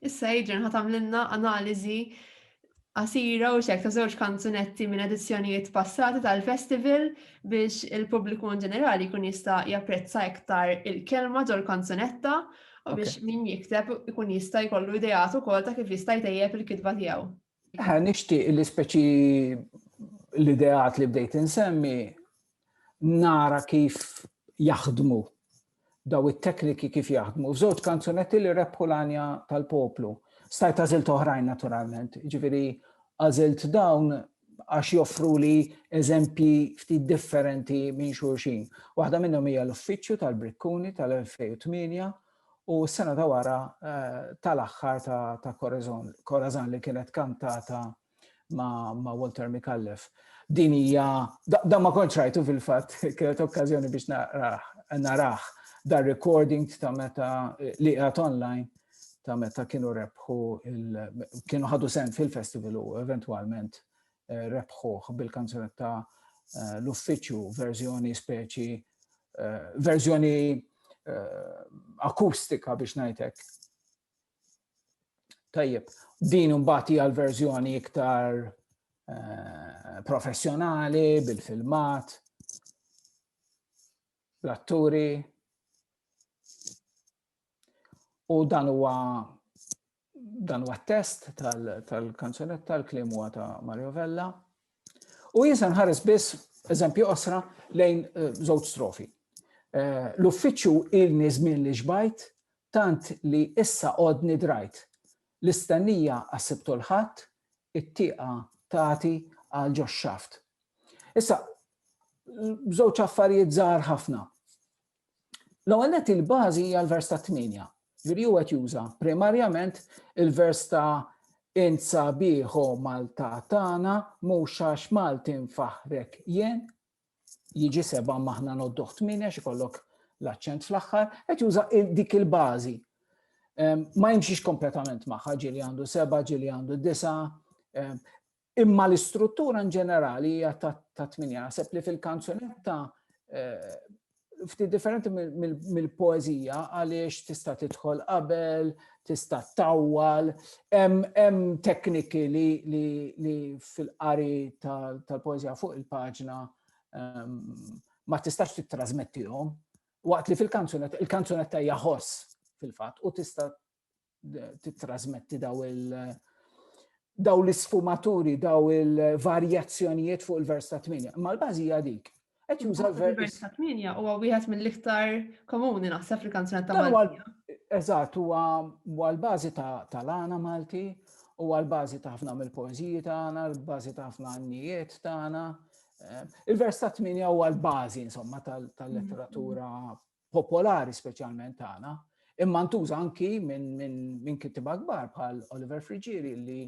Issa Adrian ħa tagħmlilna analiżi qasira u xek ta' żewġ kanzunetti minn edizzjonijiet passati tal-festival biex il-pubbliku in ġenerali kun jista' japprezza iktar il-kelma ġol kanzunetta u biex min jikteb ikun jista' jkollu idejat ukoll ta' kif jista' jtejjeb il-kitba tiegħu. Ħa nixtieq li speċi l-ideat li bdejt insemmi nara kif jaħdmu daw it-tekniki kif jaħdmu. F'żewġ kanzunetti li rebħu l-anja tal-poplu. Stajt għażilt oħrajn naturalment, ġifieri għażilt dawn għax joffru li eżempji ftit differenti minn xulxin. Waħda minnhom hija l-uffiċċju tal-Brikkuni tal-2008 u s-sena ta' wara tal-aħħar ta' Corazon li kienet kantata ma' Walter Micallef. Din hija, dan ma kontx rajtu fil-fatt, kienet okkażjoni biex narah dar recording ta' meta li qiegħed online ta' meta kienu rebħu kienu ħadu sen fil-festival u eventwalment rebħuh bil-kanzunetta l-uffiċċju verżjoni speċi verżjoni akustika biex ngħidlek. Tajjeb, din imbagħad hija l-verżjoni iktar Eh, professjonali, bil-filmat, l-atturi. U dan huwa Dan huwa test tal-kanzunetta, l-kliem huwa ta' Mario Vella. U jinsa nħares biss eżempju osra lejn eh, żewġ strofi. Eh, l-uffiċċju ilni żmien li xbajt tant li issa qodni drajt. L-istennija għassibtu l-ħadd, it-tieqa tagħti għal ġox xaft. Issa, żewġ affarijiet żgħar ħafna. L-ewwel nett il-bażi hija l-vers ta' tmienja. Ġifieri huwa qed juża primarjament il-vers ta' insa bieħo Malta tagħna mhux għax Malti nfaħrek jien jiġi seba' maħna nodduh tmienja xi kollok l-aċċent fl-aħħar, qed juża dik il-bażi. Ma jimxix kompletament magħha ġieli għandu seba, ġieli għandu disa. Imma l-istruttura in ġenerali hija ta' tminja. Naħseb li fil-kanzunetta eh, ftit differenti mill-poezija għaliex tista' tidħol qabel, tista' tawwal, hemm tekniki li fil-qari tal-poezija fuq il-paġna ehm, ma tistax tittrasmettihom waqt li fil-kanzunetta, il-kanzunetta hija ħoss fil-fatt u tista' titrasmetti daw il- daw l-isfumaturi, daw il-varjazzjonijiet fuq il-vers ta' 8. Ma l-bażi hija dik. Qed juża l-vers ta' 8 huwa wieħed mill-iktar komuni naħseb fil-kanzunat ta' Malti. Eżatt, huwa l-bażi ta' lana Malti, huwa l-bażi ta' ħafna mill-poeżiji tagħna, l-bażi ta' ħafna għannijiet tagħna. Eh, il-vers ta' 8 huwa l-bażi insomma tal-letteratura popolari speċjalment tagħna, imma ntuża anki minn min, min kittiba kbar bħal Oliver Frigieri li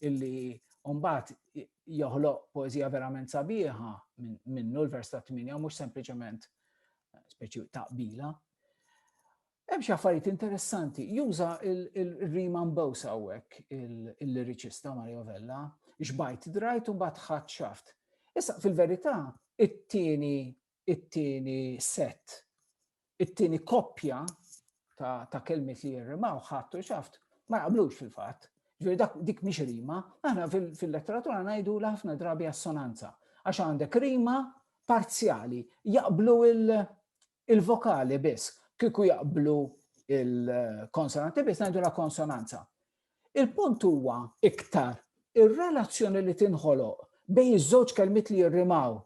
illi Umbat joħloq poezija verament sabiħa minnu l-vers ta' 8 mhux sempliċement eh, speċi taqbila. Hemm xi affarijiet interessanti, juża il-rima mbewsa hawnhekk il-liriċista Mario Vella, xbajt drajt u mbagħad ħadd xaft. Issa fil-verità, it-tieni it-tieni set, it-tieni koppja ta', ta kelmiet li jirrimaw ħadd u xaft ma jaqblux fil-fatt. Ġifieri dak dik mhix rima, aħna fil-letteratura ngħidu l ħafna drabi assonanza għax għandek rima parzjali, jaqblu il-vokali biss, kieku jaqblu il-konsonanti biss ngħidu la konsonanza. Il-punt huwa iktar ir-relazzjoni li tinħoloq bejn iż-żewġ kelmiet li jirrimaw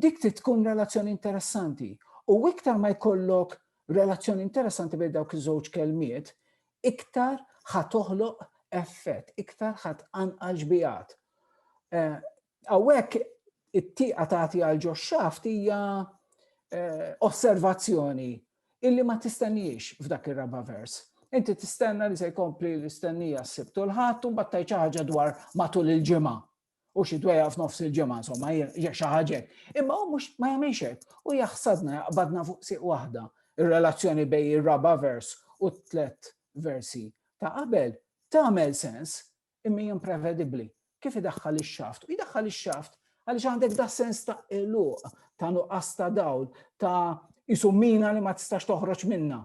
Dik trid tkun relazzjoni interessanti. U iktar ma jkollok relazzjoni interessanti bejn dawk iż-żewġ kelmiet, iktar ħa toħloq effett, iktar ħa tqanqal xbijat. Eh, hawnhekk it-tieqa tagħti għal ġo xaft hija eh, osservazzjoni illi ma tistenniex f'dak ir-raba' vers. Inti tistenna li se jkompli l-istennija s-sibt u l-ħadd u mbagħad ħaġa dwar matul il-ġimgħa. u xi dwejja f'nofs il-ġimgħa insomma hija xi ħaġa. Imma hu mhux ma jagħmilx hekk u jaħsadna jaqbadna fuq siq waħda ir-relazzjoni bejn ir-raba' vers u t-tlet versi ta' qabel tagħmel sens imma imprevedibbli kif idaħħal ix-xaft. U jdaħħal ix-xaft għaliex għandek da sens ta' eluq, ta' nuqqas ta' dawl, ta' isumina li ma tistax toħroġ minna.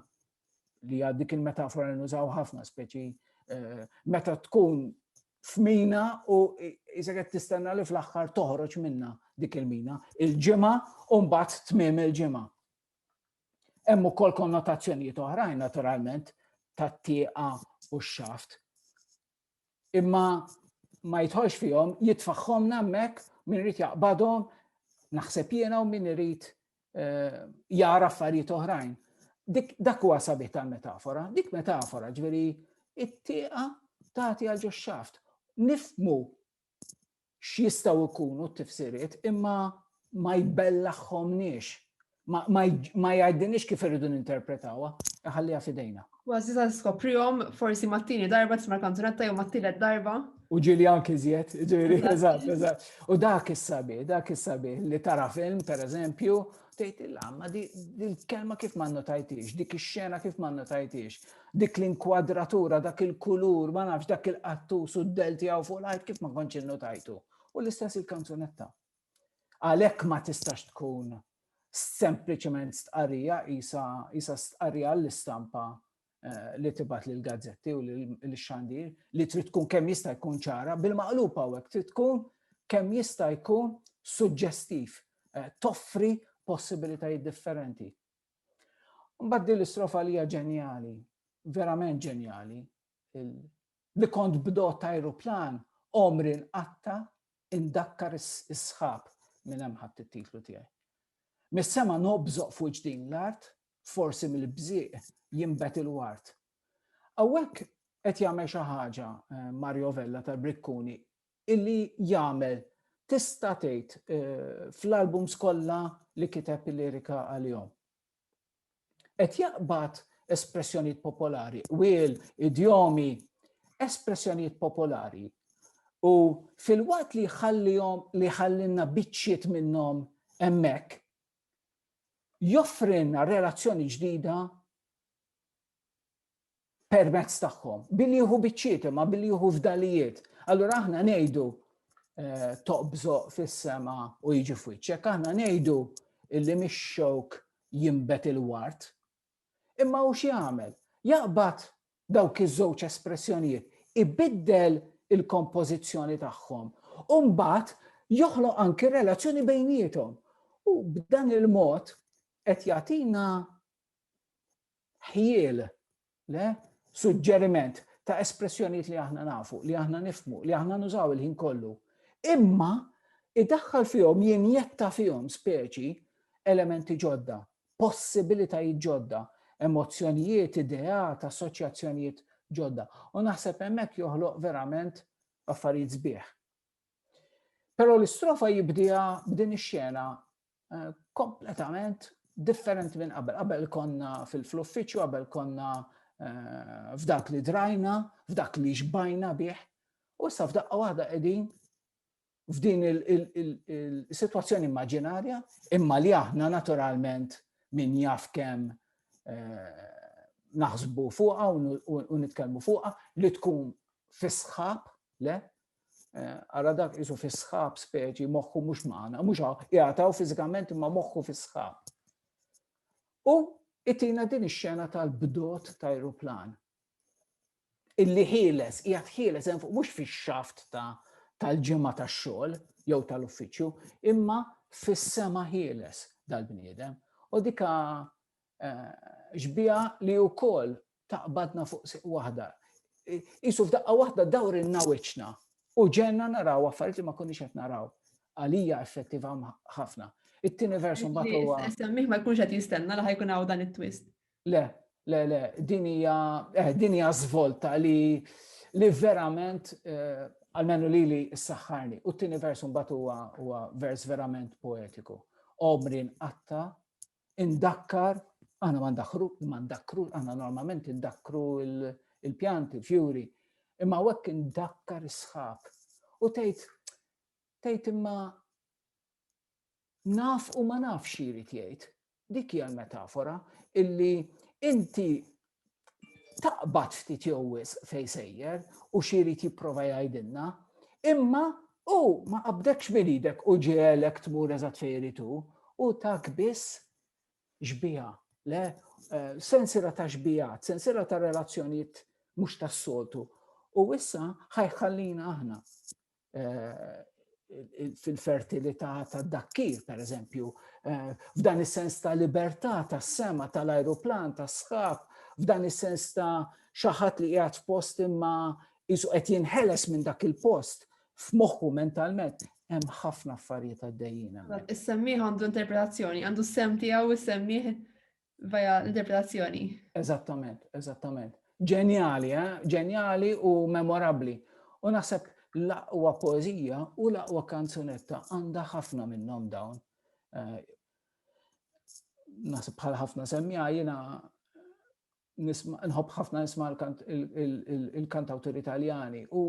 li għad dik il-metafora nużaw ħafna speċi eh, meta tkun f'mina u jisa qed tistenna li fl-aħħar toħroġ minna dik il-mina il-ġimgħa u mbagħad tmiem il-ġimgħa. Hemm ukoll konnotazzjonijiet oħrajn naturalment tat-tieqa u x-xaft. imma ma jitħolx fihom, jitfaħħomna hemmhekk min irid jaqbadhom, naħseb jiena u min irid eh, jara affarijiet oħrajn. Dak huwa sabiħ tal-metafora, dik metafora ġveri it-tieqa tagħti għal ġoxxaft. Nifmu x'jistgħu jkunu t-tifsiriet imma ma jbellaħħomniex ma jgħidinix kif irridu ninterpretawha, ħalliha fidejna. Għazzi ta' skoprihom forsi mat-tieni darba tisma' kanzunetta jew mat-tielet darba. U ġili anki żjed, ġili, eżatt, eżatt. U dak is-sabi, dak is-sabi li tara film, per eżempju, Tgħidilha, ma di l-kelma kif ma notajtix, dik ix-xena kif ma notajtix, dik l-inkwadratura, dak il-kulur, ma nafx dak il-qattus u d-del tiegħu fuq l-art kif ma kontx innotajtu. U l-istess il-kanzunetta. Għalhekk ma tistax tkun sempliċement stqarrija isa stqarrija l-istampa eh, li tibgħat lil gazzetti u lil xandir li trid tkun kemm jista' jkun ċara bil-maqlub hawnhekk trid tkun kemm jista' jkun suġġestiv, eh, toffri possibilitajiet differenti. Mbagħad din l-istrofa li hija ġenjali, verament ġenjali, li kont bdot ta' aeroplan omri nqatta indakkar is-sħab minn hemm ħadd it-titlu tiegħi. Mis-sema nobżoq fuq ġdin l-art forsi mill-bżieq jinbet il-ward. Hawnhekk qed jagħmel xi ħaġa eh, Mario Vella tal-Brikkuni illi jagħmel tista' tgħid eh, fl-albums kollha li kiteb il-lirika għalihom. Qed jaqbad espressjonijiet popolari, wil, idjomi, espressjonijiet popolari. U fil-waqt li jħallihom li ħallinna biċċiet minnhom hemmhekk joffrilna relazzjoni ġdida permezz tagħhom, billi jieħu biċċiet imma billi jieħu fdalijiet. Allura aħna ngħidu eh, toqbżo fis-sema u jiġi f'wiċċek, aħna ngħidu illi mix-xewk jimbet il-wart, Imma hu x'jagħmel? Jaqbad dawk iż-żewġ espressjonijiet, ibiddel il-kompożizzjoni tagħhom u mbagħad joħloq anki relazzjoni bejniethom. U b'dan il-mod qed jagħtina ħjiel le suġġeriment ta' espressjonijiet li aħna nafu, li aħna nifmu, li aħna nużaw il-ħin kollu. Imma idaħħal fihom jinjetta fihom speċi elementi ġodda possibilitajiet ġodda, emozzjonijiet, ideat, assoċjazzjonijiet ġodda. U naħseb hemmhekk joħloq verament affarijiet sbieħ. Però l-istrofa jibdija b'din ix-xena eh, kompletament differenti minn qabel. Qabel konna fil-uffiċċju, qabel konna eh, f'dak li drajna, f'dak li xbajna bih, u issa f'daqqa waħda qegħdin f'din il-situazzjoni immaġinarja, imma li aħna naturalment min jaf kemm eh, naħsbu fuqa u nitkellmu fuqa li tkun fisħab, le? Eh, ara dak jisu fisħab speċi moħħu mhux magħna, mhux jgħataw fiżikament imma moħħu fisħab. U itina din ix-xena tal-bdot ta' aeroplan. illi ħieles, qiegħed ħieles hemm fuq mhux fix-xaft ta' tal-ġimgħa tax-xogħol jew tal-uffiċċju, imma fis-sema ħieles dal-bniedem. U dika ġbija eh, li wkoll taqbadna fuq siq waħda. Isu f'daqqa waħda dawr in-nawiċna u ġenna naraw affarijiet li ma konniex qed naraw. Għalija effettiva ħafna. It-tieni versu mbagħad huwa. Semmih ma jkunx qed jistenna li ħajkun hawn dan it-twist. Le, le, le, din hija eh, din hija żvolta li li verament eh, għalmenu li li s-saxħarni. U t-tini vers mbagħad huwa huwa vers verament poetiku. Omri nqatta, indakkar, aħna ma ndakkru, ma ndakkru, aħna normalment indakkru il-pjanti, il-fjuri, imma wekk indakkar is-sħab. U tgħid tgħid imma naf u ma naf xi jrid jgħid. Dik hija l-metafora illi inti taqbad ftit jew wis fej sejjer u xi jrid jipprova jgħidilna, imma u ma qabdekx minn idek u ġielek tmur eżatt fejn irid u tak biss xbija, le eh, sensira ta' xbijat, sensira ta' relazzjonijiet mhux tas-soltu. U issa ħajħallina aħna fil-fertilità tad-dakkir, per eżempju, f'dan is-sens ta' libertà tas-sema tal-ajruplan, tas-sħab, f'dan is-sens ta' xaħat li qiegħed f'post imma jisu qed jinħeles minn dak il-post f'moħħu mentalment hemm ħafna affarijiet għaddejjin. Is-semmiħ għandu interpretazzjoni, għandu s-sem tiegħu is-semmiħ Via l-interpretazzjoni. Eżattament, eżattament. Ġenjali, eh? Ġenjali u memorabli. U naħseb l-aqwa poezija u l-aqwa kanzunetta għandha ħafna minnhom dawn. Eh, naħseb bħal ħafna semmija jiena nħobb ħafna nisma il-kantawtur italjani u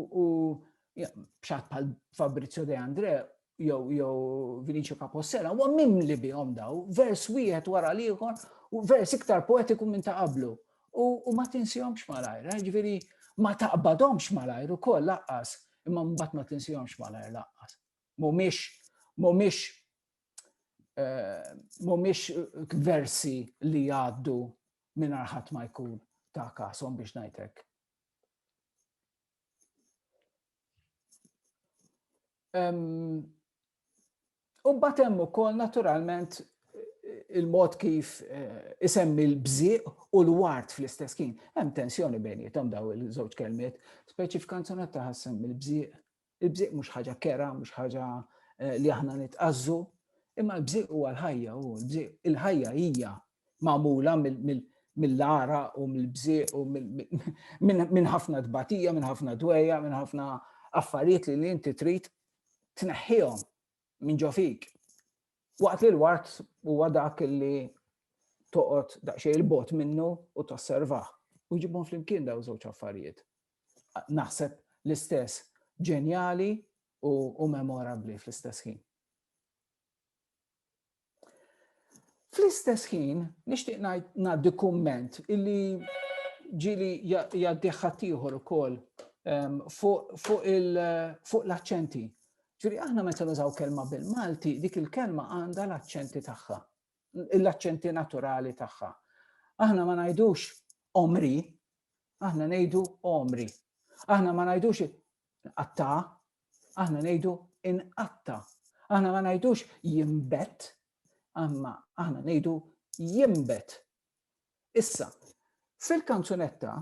bxat bħal Fabrizio De Andre jew jew Vinicio Capossela, huwa mimli bihom daw, vers wieħed wara l-ieħor, u vers iktar poetiku minn ta' qablu. U ma tinsihomx malajr, eh, ġifieri ma taqbadhomx malajr ukoll laqqas, imma mbagħad ma tinsihomx malajr laqqas. Mhumiex mhumiex eh, mhumiex versi li jgħaddu minn arħat ma jkun ta' kasom biex ngħidlek. U mbagħad hemm ukoll naturalment il-mod kif eh, isemmi l-bżieq u l-wart fl-istess kien. Hemm tensjoni bejnietom daw il-żewġ kelmiet, speċi f'kanzunet ta' ħassem il-bżieq. Il-bżieq mhux ħaġa kera, mhux ħaġa eh, li aħna nitqazzu, imma l-bżieq huwa l-ħajja u l-bżieq il-ħajja hija magħmula mill-ara u mill-bżieq u minn ħafna tbatija, minn ħafna dweja, minn ħafna affarijiet li inti trid tneħħihom minn ġo fik. Waqt li l-wart huwa dak li toqgħod daqsxejn il-bot minnu u tosservah. U ġibhom flimkien daw żewġ affarijiet. Naħseb l-istess ġenjali u memorabli fl-istess ħin. Fl-istess ħin, nixtieq ngħaddi kumment illi ġili jgħaddi ħaddieħor ukoll ehm, fuq l-aċċenti. Ġifieri aħna meta nużaw kelma bil-Malti, dik il-kelma għandha l-aċċenti tagħha, l-aċċenti naturali tagħha. Aħna ma ngħidux omri, aħna ngħidu omri. Aħna ma ngħidux Qatta, aħna ngħidu inqatta. Aħna ma ngħidux jimbet, għamma aħna ngħidu jimbet. Issa, fil-kanzunetta,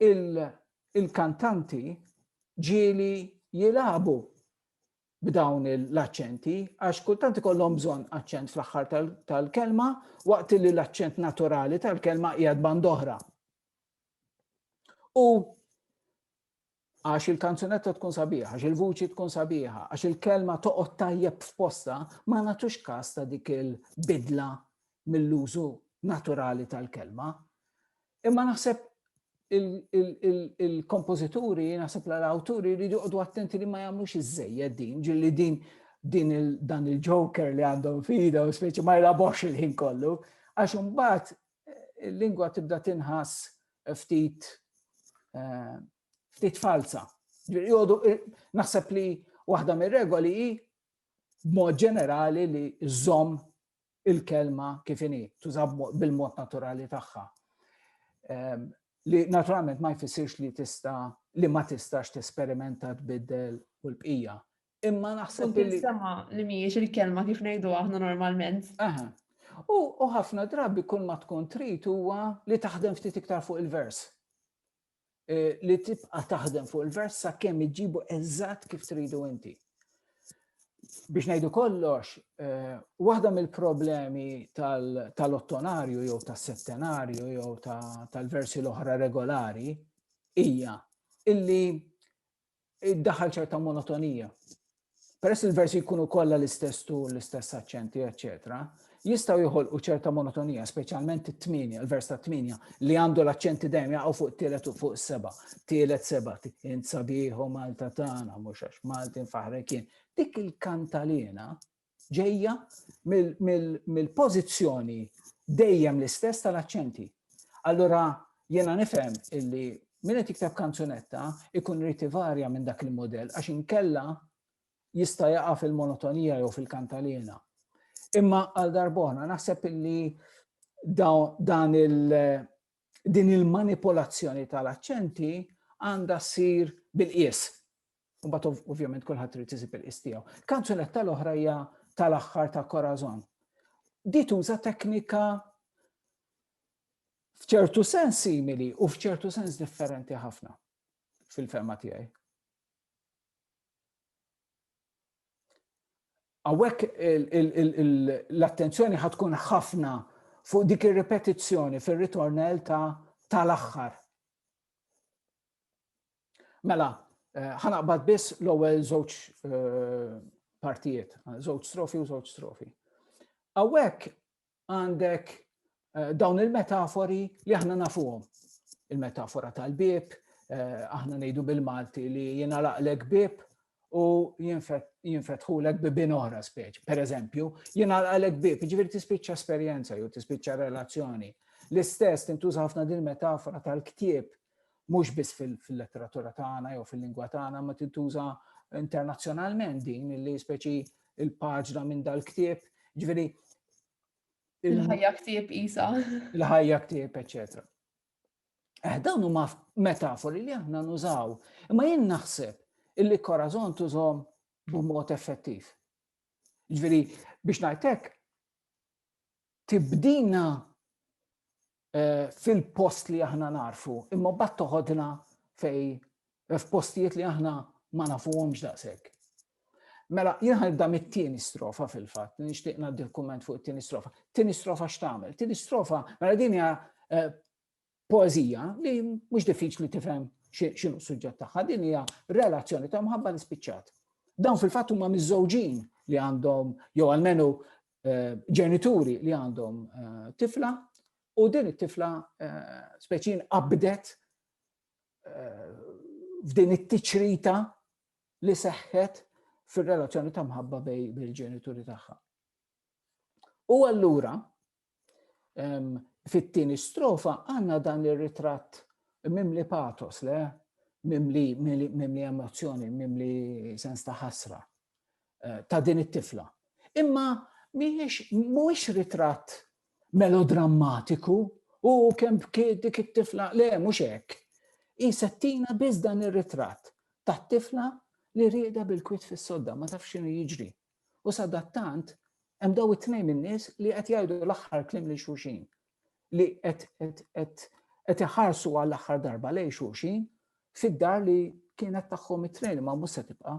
il-kantanti ġieli jilabu b'dawn l-accenti, għax kultant ikollhom bżonn accent fl-aħħar tal-kelma, waqt li l-accent naturali tal-kelma qiegħed bandoħra. U għax il-kanzunetta tkun sabiħa, għax il-vuċi tkun sabiħa, għax il-kelma toqgħod tajjeb f'posta, ma nagħtux każ ta' dik il-bidla mill-użu naturali tal-kelma. Imma naħseb il-kompożituri, naħseb l-awturi li joqdu attenti li ma jagħmlux iż-żejjed din, ġilli din din dan il-joker li għandhom fida u speċi ma jlabox il-ħin kollu, għax imbagħad il-lingwa tibda tinħass ftit ftit falza. Naħseb li waħda mir-regoli hi b'mod ġenerali li żomm il-kelma kif inhi, tuża bil-mod naturali tagħha. Ehm, li naturalment ma jfissirx li tista' li ma tistax tesperimenta tbiddel u l-bqija. Imma naħseb li. Sema li mhijiex il-kelma kif ngħidu aħna normalment. Aha. U ħafna drabi kull ma tkun trid huwa li taħdem ftit iktar fuq il-vers. E, li tibqa taħdem fuq il-vers sa' kemm iġibu eżatt kif tridu inti. Biex ngħidu kollox, e, waħda mill-problemi tal-ottonarju jew tas-settenarju jew tal-versi l-oħra regolari hija illi iddaħħal ċerta monotonija. Peress il-versi jkunu kollha l-istess tu, l-istess aċċenti, eċċetera, jistgħu joħolqu ċerta monotonija, speċjalment it-tminja, il-vers ta' tminja, li għandu l-aċċenti dejjem jaqgħu fuq tielet u fuq seba, tielet seba, int sabiħu Malta tagħna, mhux għax Maltin faħrekien. Dik il-kantalina ġejja mill-pożizzjoni dejjem l-istess tal-aċċenti. Allura jiena nifhem illi min qed jikteb kanzunetta ikun rrid ivarja minn dak il-modell għax inkella jista' jaqa' fil-monotonija jew fil-kantalina. Imma għal darbona naħseb illi dan il- din il-manipolazzjoni tal-aċċenti għandha ssir bil-qies. U bat ovvjament kulħadd trid isib il-qis tiegħu. Kanzunetta l-oħra hija tal-aħħar ta' Corazon. Di tuża teknika f'ċertu sens simili u f'ċertu sens differenti ħafna fil-fema tiegħi. Għawek l-attenzjoni ħatkun ħafna fuq dik ir-repetizzjoni fir-ritornell ta' tal-aħħar. Mela, eh, ħanaqbad biss l-ewwel żewġ eh, partijiet, żewġ strofi u żewġ strofi. Awek għandek eh, dawn il-metafori li aħna nafuhom. Il-metafora tal-bib, aħna ngħidu bil-Malti li jiena laqlek bib u jinfetħulek bibin oħra speċ. Per eżempju, jiena laqlek bib, ġifieri tispiċċa esperjenza jew tispiċċa relazzjoni. L-istess tintuża ħafna din metafora tal-ktieb Mhux biss fil-letteratura tagħna jew fil-lingwa tagħna ma tintuża internazzjonalment din li speċi il-paġna minn dal-ktieb, ġifieri il-ħajja ktieb isa. Il-ħajja ktieb, eċetera. Eh, dawn huma metafori li aħna nużaw, imma jien naħseb illi korazon tużhom b'mod effettiv. Ġveri, biex najtek, tibdina eh, fil-post li aħna narfu, imma bat toħodna fej eh, f'postijiet li aħna ma nafuhomx daqshekk. Mela, jien ħanibda mit-tieni strofa fil-fatt, nixtieq ngħaddi l-kumment fuq it-tieni strofa. Tieni strofa x'tagħmel? Tieni strofa, mela din hija eh, poezija li mhux diffiċli tifhem x'inhu suġġett tagħha, din hija relazzjoni ta' mħabba nispiċċat. Dawn fil-fatt huma miżżewġin li għandhom jew almenu eh, ġenituri li għandhom eh, tifla u din it-tifla eh, speċin qabdet f'din it-tiċrita li seħħet fir-relazzjoni ta' mħabba bej bil-ġenituri tagħha. U allura ehm, fit-tieni strofa għandna dan ir-ritratt mimli patos le mimli, mimli emozzjoni, mimli sens ta' ħasra. ta' din it-tifla. Imma mhijiex mhuwiex ritratt melodrammatiku u kemm bkiet dik it-tifla le mhux hekk. Hi settina biss dan ir-ritratt tat-tifla li rieda bil-kwit fis-sodda ma tafx x'inhu jiġri. U sadattant hemm daw it-tnejn in-nies li qed jgħidu l-aħħar klim lil xulxin li qed iħarsu għall-aħħar darba lejn xulxin fid-dar li kienet tagħhom it-tnejn ma mhux se tibqa'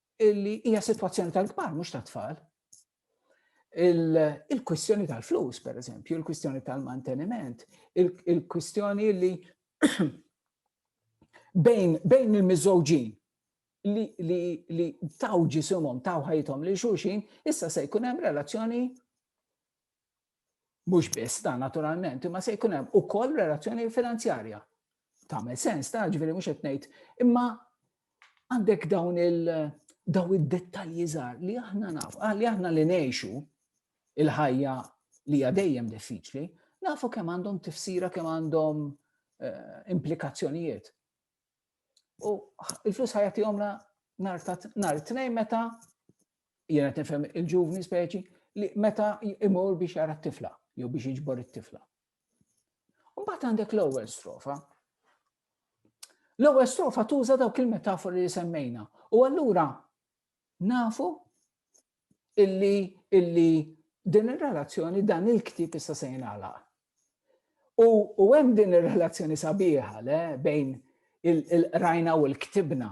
illi hija sitwazzjoni tal-kbar mhux tat-tfal. Il-kwistjoni tal-flus, per eżempju, il-kwistjoni tal-manteniment, il-kwistjoni li bejn bejn il-miżżewġin li li li taw ġisimhom taw ħajthom li xulxin, issa se jkun hemm relazzjoni Mhux biss dan naturalment, imma se jkun hemm ukoll relazzjoni finanzjarja. Tagħmel sens ta' ġifieri mhux qed ngħid, imma għandek dawn il daw id-dettalji żgħar li aħna naf, ah, li aħna li ngħixu il-ħajja li hija dejjem diffiċli, nafu kemm għandhom tifsira kemm għandhom eh, implikazzjonijiet. U il-flus ħajati għomna nar ta' nar tnejn meta jena tifhem il-ġuvni speċi li meta imur biex jara t-tifla jew biex iġbor it-tifla. U mbagħad għandek l-ewwel strofa. L-ewwel strofa tuża dawk il-metafori li semmejna. U allura Nafu illi illi din ir-relazzjoni dan il-ktieb issa se jingħalaq. U, u hemm din ir-relazzjoni sabiħa le bejn il-qrajna u l-ktibna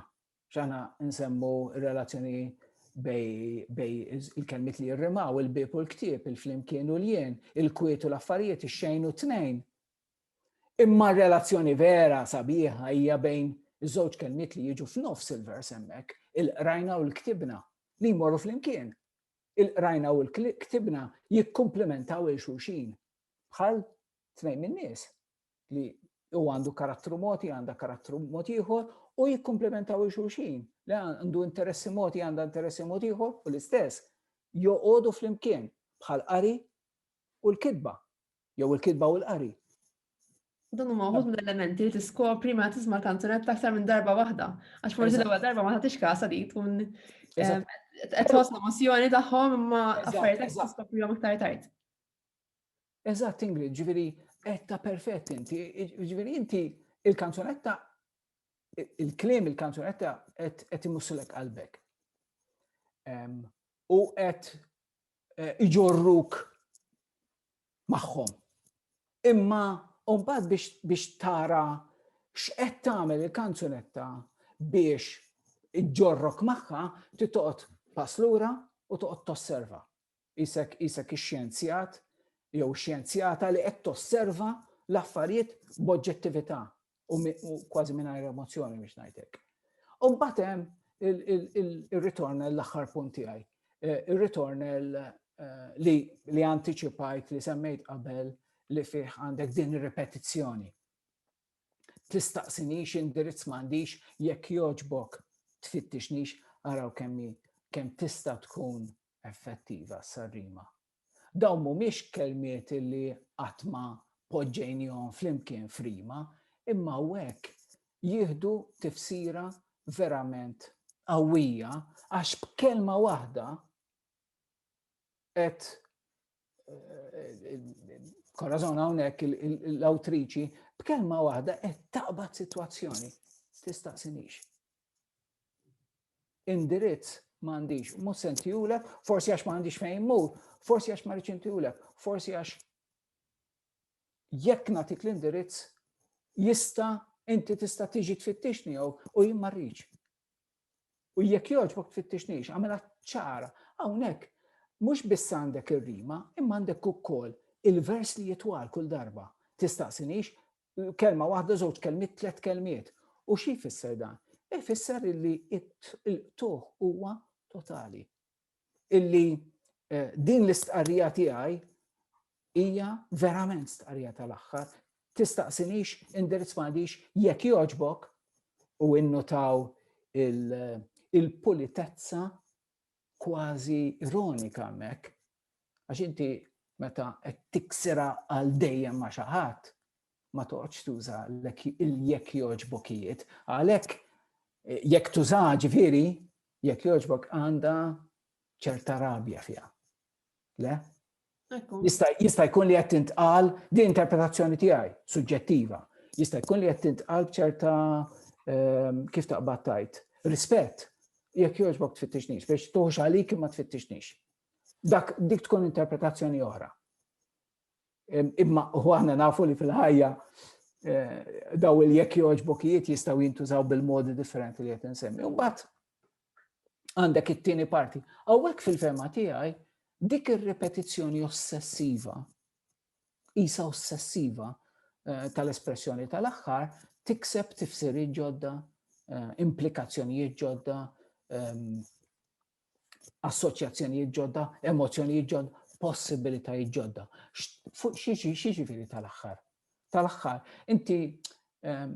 ċana nsemmu relazzjoni bej il-kelmit li jirrimaw, il-bib u l-ktib, il-flimkien u l-jien, il-kwiet u l-affarijiet, il-xejn u t-tnejn. Imma r-relazzjoni vera sabiħa hija bejn iż-żewġ kelmiet li jiġu f'nofs il-vers hemmhekk, il-qrajna u l-ktibna, li jmorru flimkien. Il-qrajna u l-ktibna jikkumplimentaw il xulxin bħal tnejn min-nies li u għandu karattru moti, għanda karattru moti ieħor u jikkomplementaw il xulxin li għandu interessi moti, għanda interessi moti ieħor u l-istess joqogħdu flimkien bħal qari u l-kidba jew il-kitba u l-qari. Dan huma wħud mill-elementi li tiskopri ma tisma' kanzunetta aktar minn darba waħda. Għax forsi l-ewwel darba ma tagħtix kasa li tkun eh, qed tħoss l-emozzjoni tagħhom imma affarijiet qed tiskoprihom iktar tard. Eżatt, Ingrid, ġifieri qed ta' perfett inti, ġifieri inti il-kanzunetta il-klim il-kanzunetta qed imussilek qalbek. U qed eh, iġorruk magħhom. Imma mbagħad biex, biex tara x'qed tagħmel il-kanzunetta biex iġġorrok magħha titoqgħod pass lura u toqgħod tosserva. Isek isek ix-xjenzjat jew xjenzjata li qed tosserva l-affarijiet b'oġġettività u kważi mingħajr emozzjoni biex ngħidlek. U mbagħad hemm il-ritornel l-aħħar punt tiegħi. Eh, il-ritornel eh, li li anticipajt li semmejt qabel li fih għandek din ir-repetizzjoni. Tistaqsinix indirizz m'għandix jekk joġbok tfittixnix araw kemmi kemm tista' tkun effettiva s-sarrima Dawn mhumiex kelmiet li qatt ma poġġejnihom flimkien f'rima, imma hawnhekk jieħdu tifsira verament qawwija għax b'kelma waħda qed Korazon hawnhekk l-awtriċi b'kelma waħda qed taqbad sitwazzjoni. Tistaqsinix. indirizz ma għandix, mhux se ntihulek, forsi għax ma għandix fejn immur, forsi għax ma rridx intihulek, forsi għax jekk nagħtik l-indirizz jista' inti tista' tiġi tfittixni jew u jien ma rridx. U jekk jogħġbok tfittixnix, għamela ċara, hawnhekk mhux biss għandek ir-rima, imma għandek ukoll il-vers li jitwal kull darba. Tistaqsinix Kelma waħda, żewġ kelmiet, tliet kelmiet. U xi jfisser dan? Ifisser illi il-qtuħ huwa totali. Illi eh, din l-istqarrija tiegħi hija verament stqarrija tal-aħħar. Tistaqsinix, indirizz m'għandix jekk joġbok u innutaw il-pulitezza kważi ironika mek Għax inti meta qed tiksira għal dejjem ma' xi ħadd, ma toqgħodx tuża jekk jogħġbokijiet. Għalhekk eh, jekk tuża ġifieri, jekk jogħġbok għandha ċerta rabja fiha. Le? Jista' jkun li qed tintqal di interpretazzjoni tiegħi, suġġettiva. Jista' jkun li qed tintqal b'ċerta ehm, kif taqbad tajt. Rispett, jekk jogħġbok tfittixnix, biex tuħx għalik ma tfittixnix. Dak dik tkun interpretazzjoni oħra. Imma u aħna nafu li fil-ħajja eh, daw il-jekk joġbokijiet jistaw jintużaw bil-modi differenti li qed insemmi. Mbagħad għandek it-tieni parti. Hawnhekk fil-fema tiegħi dik ir-repetizzjoni ossessiva, isa ossessiva eh, tal-espressjoni tal-aħħar, tikseb tifsiri ġodda, eh, implikazzjonijiet ġodda, ehm, assoċjazzjonijiet ġodda, emozzjonijiet ġodda, possibilitajiet ġodda. Xieġifiri tal-axħar? Tal-axħar, inti ehm,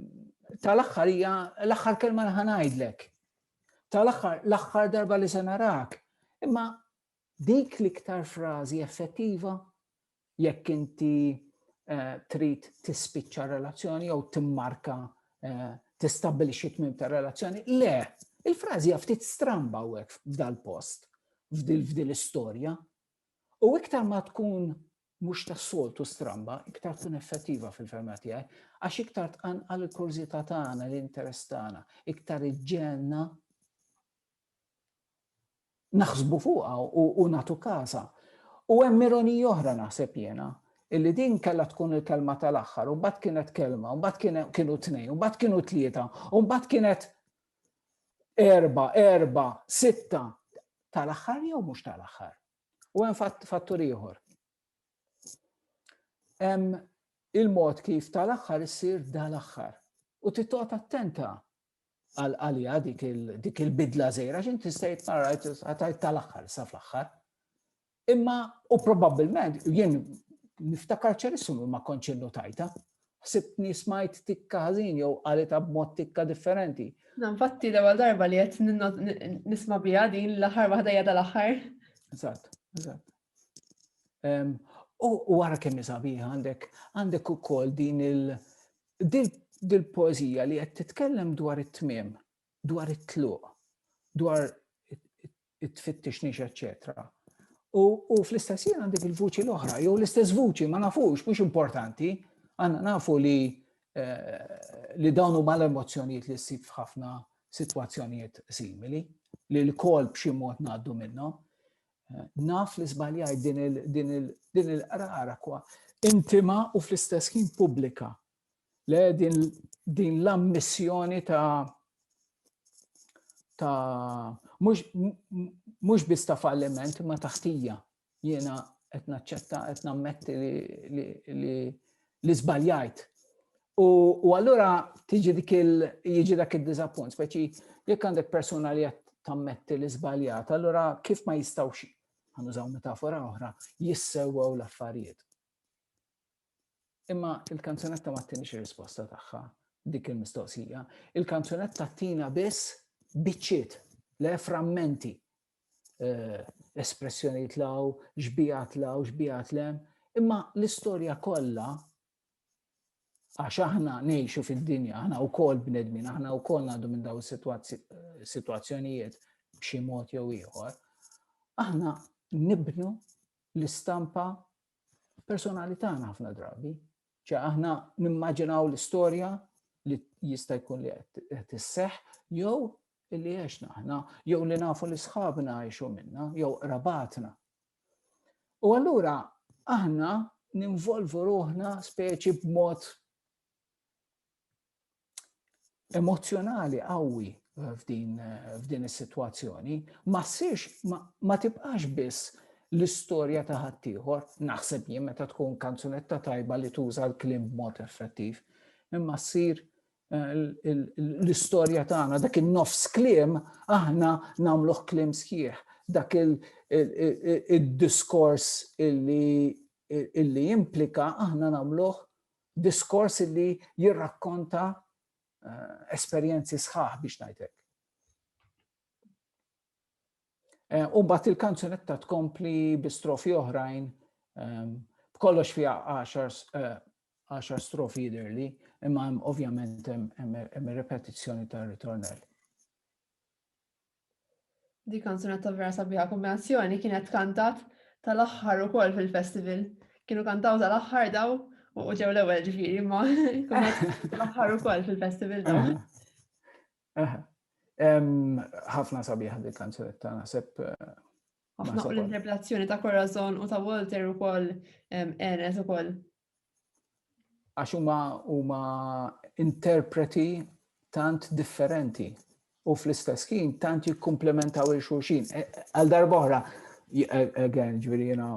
tal-axħar hija l-axħar kelma li ħanajdlek. Tal-axħar, l-axħar darba li se narak. Imma dik l-iktar frażi effettiva jekk inti eh, trid tispiċċa relazzjoni jew timmarka eh, tistabbilixxi tmim ta' relazzjoni. Le, il-frażi ftit stramba hekk f'dal-post, f'dil istorja U iktar ma tkun mhux tas-soltu stramba, iktar tkun effettiva fil-ferma tiegħi, għax iktar tqanqal il-kurżità tagħna, l-interess tagħna, iktar iġġelna naħsbu fuqha u nagħtu każha. U hemm ironija oħra naħseb jiena, illi din kellha tkun il-kelma tal-aħħar, u mbagħad kienet kelma, u mbagħad kienu tnejn, u mbagħad kienu tlieta, u mbagħad kienet erba, erba, sitta, tal-aħħar jew mhux tal-aħħar. U hemm fattur ieħor. Hemm il-mod kif tal-aħħar issir dal-aħħar. U titqgħod attenta għalija dik il-bidla zejra, xin tista' jitmarajt għatajt tal-axħar, sa fl-axħar. Imma, u probabilment, jien niftakar ċerissum ma konċin notajta, ħsibtni smajt tikka ħażin jew għalita b'mod tikka differenti. Nfatti l ewwel darba li qed nisma' biha din l-aħħar waħda jada l-aħħar. Eżatt, eżatt. U wara kemm sabiħ għandek għandek ukoll din il dil poezija li qed titkellem dwar it-tmiem, dwar it-tluq, dwar it-tfittix nix, eċċetera. U fl-istess jien għandek il-vuċi l-oħra, jew l-istess vuċi, ma nafux, mhux importanti, għanna nafu li eh, li dawnu mal emozjonijiet li ssib f'ħafna situazzjonijiet simili, li l-kol b'xi mod ngħaddu minnhom. Naf li żbaljajt din il-qrara kwa intima u fl-istess ħin pubblika. Le din l-ammissjoni ta' ta' mhux biss ta' falliment ma taħtija jiena qed naċċetta qed nammetti li li żbaljajt. U allura tiġi dik il jiġi dak id-diżappunt, speċi jekk għandek persuna li qed tammetti li żbaljat, allura kif ma jistgħux ħanużaw metafora oħra, jissewwew l-affarijiet. Imma il-kanzunetta ma tinix risposta tagħha dik il-mistoqsija. Il-kanzunetta tina biss biċċiet, le frammenti eh, espressjoni tlaw, xbija tlaw, xbija tlem, imma l-istorja kollha għax aħna nejxu fid-dinja, aħna u kol bnedmin, aħna u kol għadu minn daw situazzjonijiet b'xi mod jew ieħor, aħna nibnu l-istampa personali tagħna ħafna drabi. ċe aħna nimmaġinaw l-istorja li jista' jkun li qed isseħ jew li għexna aħna, jew li nafu li sħabna għexu minna, jew rabatna. U allura aħna ninvolvu ruħna speċi b'mod emozjonali qawwi f'din is-sitwazzjoni ma ssirx ma tibqax biss l-istorja ta' ħaddieħor, naħseb jien meta tkun kanzunetta tajba li tuża l-klim b'mod effettiv, imma ssir eh, l-istorja tagħna dak in-nofs klim aħna nagħmluh klim sħiħ, dak il-diskors illi illi implika aħna nagħmluh diskors li jirrakkonta eh, esperjenzi sħaħ biex ngħidlek. Eh, u mbagħad il-kanzunetta tkompli bi strofi oħrajn ehm, b'kollox fiha 10 eh, strofi jidirli, imma ovvjament hemm repetizzjoni tar-ritornell. Di kanzunetta vera sabiħa kombinazzjoni kienet kantat tal-aħħar ukoll fil-festival. Kienu kantaw tal-aħħar daw u ġew l-ewwel ġifieri ma tal-aħħar ukoll fil-festival daw. Ħafna sabiħa di kanzunetta naħseb eh, Ħafna u l-interpretazzjoni ta' Corazon u ta' Walter ukoll enet ukoll għax huma huma interpreti tant differenti u fl-istess ħin tant jikkumplementaw il xulxin. E, e, għal darbohra, e, again, ġviri jena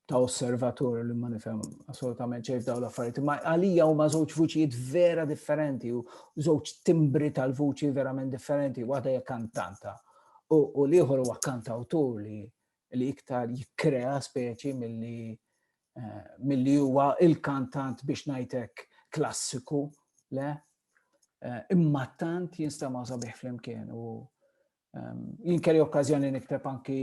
ta' osservatur li ma nifhem assolutament ċejf daw l-affarijiet, ma għalija huma żewġ vuċijiet vera differenti u żewġ timbri tal-vuċi verament differenti, waħda hija kantanta u l-ieħor huwa kantawtur li li iktar jikkrea speċi milli eh, milli huwa il-kantant biex ngħidlek klassiku, le? Eh, imma tant jinstema' sabiħ flimkien u ehm, jinkeri okkazjoni nikteb anki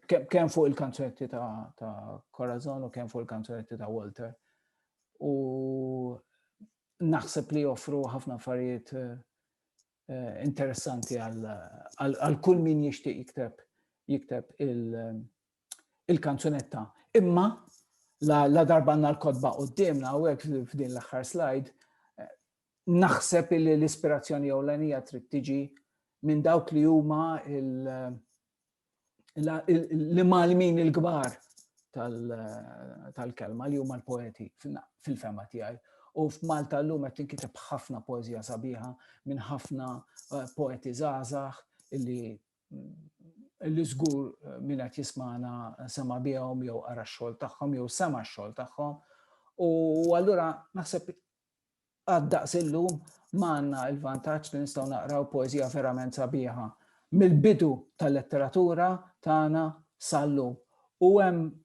kemm fuq il-kanzunetti ta' Corazon u kemm fuq il-kanzunetti ta' Walter. U naħseb li joffru ħafna affarijiet eh, eh, interessanti għal kull min jixtieq jikteb jikteb il-kanzunetta. Imma la darba għandna l-kodba qudiemna u hekk f'din l-aħħar slide eh, naħseb li l-ispirazzjoni ewlenija trid tiġi minn dawk li huma li malmin il-gbar tal-kelma li huma l-poeti fil-fema tiegħi. U f'Malta l-lum qed tinkiteb ħafna poezija sabiħa minn ħafna eh, poeti żgħażagħ illi illi żgur eh, minn qed jismana sema bihom jew ara x-xogħol tagħhom jew sema x-xogħol tagħhom. U allura naħseb għad-daqs illum ma għandna l-vantaġġ li nistgħu naqraw poeżija verament sabiħa mill-bidu tal-letteratura tagħna sal-lum. U hemm